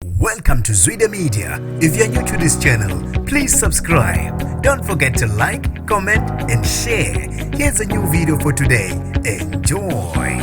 Welcome to Zwide Media. If you're new to this channel, please subscribe. Don't forget to like, comment and share. Here's a new video for today. Enjoy.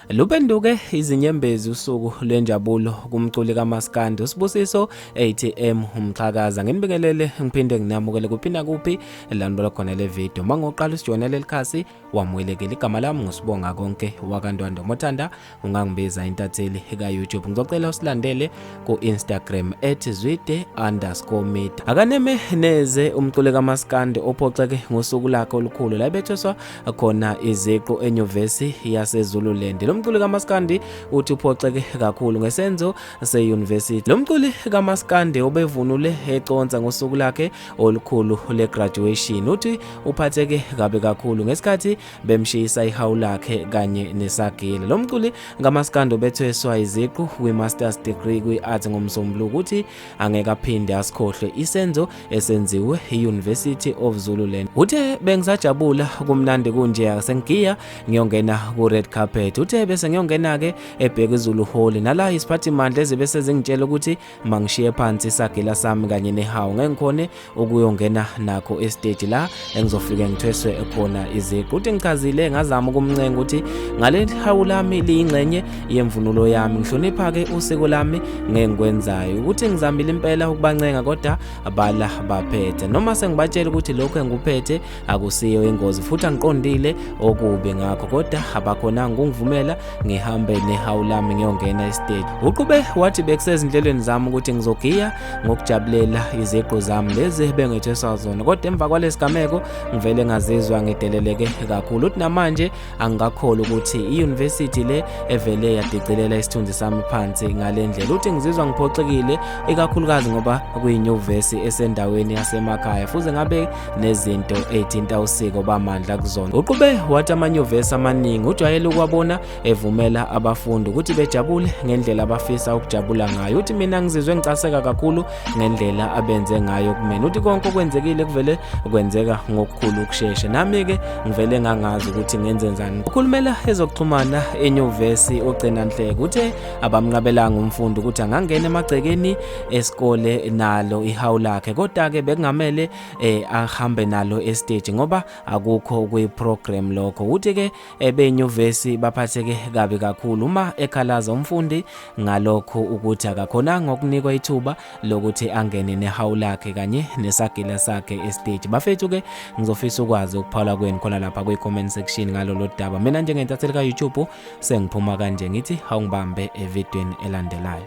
Lupenduke izinyembezi usuku lwenjabulo kumculi kaMaskandi uSibusiso ATM umxhakaza nginibingelele ngiphinde nginamukele kuphi nakuphi landibala khona le video mangoqala usijonele likhasi wamwelekela igama lami ngusibonga konke wakantwando mothanda ungangibiza intatheli ka-youtube ngizocela usilandele ku-instagram at zwide underscore mid akaneme neze umculi kamaskandi ophoxeke ngosuku lakhe olukhulu la bethweswa khona iziqu enyuvesi yasezululand lo mculi kamaskandi uthi uphoxeke kakhulu ngesenzo seyunivesithi lo mculi kamaskandi obevunule econsa ngosuku lakhe olukhulu legraduation uthi uphatheke kabi kakhulu ngesikhathi bemshiyisa ihawu lakhe kanye nesagile lo mculi ngamaskando bethweswa iziqu kwi-masters degree kwi-art ngomsombuluko ukuthi angeke aphinde asikhohlwe isenzo esenziwe i-university of zululand uthe bengisajabula kumnandi kunje sengigiya ngiyongena ku-red carpet uthe bese ngiyongena-ke ebheka izulu hall nala isiphathimandla ezibe sezingitshela ukuthi mangishiye phansi isagila sami kanye nehawu ngeke ngikhone ukuyongena nakho estage la engizofike ngithweswe khona iziqu uthi ngichazile ngazama ukumncenga ukuthi ngale hawu lami liyingxenye yemvunulo yami ngihlonipha ke usiko lami ngeke ngikwenzayo ukuthi ngizamile impela ukubancenga kodwa bala baphethe noma sengibatshela ukuthi lokho engikuphethe akusiyo ingozi futhi angiqondile okubi ngakho kodwa abakhonanga ukungivumela ngihambe nehawu lami ngiyongena esiteji uqube wathi bekusezinhlelweni zami ukuthi ngizogiya ngokujabulela iziqu zami lezi bengetheswa zona kodwa emva kwalesigameko ngivele ngazizwa ngideleleke kakhulu uthi namanje angikakholwa ukuthi i-university le evele yadicilela isithunzi sami phansi ngale ndlela uthi ngizizwa ngiphoxekile ikakhulukazi ngoba kuyinyuvesi esendaweni yasemakhaya futhi ngabe nezinto ey'thinta usiko bamandla kuzona uqube wathi amanyuvesi amaningi ujwayele ukwabona evumela abafundi ukuthi bejabule ngendlela abafisa ukujabula ngayo uthi mina ngizizwe ngicaseka kakhulu ngendlela abenze ngayo kumina uthi konke okwenzekile kuvele kwenzeka ngokukhulu ukushesha nami-ke ngivele ngangazi ukuthi ngenzenzani ukhulumela ezokuxhumana enyuvesi ugcina nhleke uthe abamnqabelanga umfundi ukuthi angangena emagcekeni esikole nalo ihawu lakhe kodwa-ke bekungamele um ahambe nalo esiteji ngoba akukho kuyi-program lokho uthi-ke ebenyuvesi baphatheke kabi kakhulu uma ekhalaza umfundi ngalokho ukuthi akakhonanga ukunikwa ithuba lokuthi angene nehawu lakhe kanye nesagila sakhe estage bafethu ke ngizofisa ukwazi ukuphawula kwenu khona lapha kwi-comment section ngalolo daba mina njengentatheli ka-youtube sengiphuma kanje ngithi hawungibambe evidweni elandelayo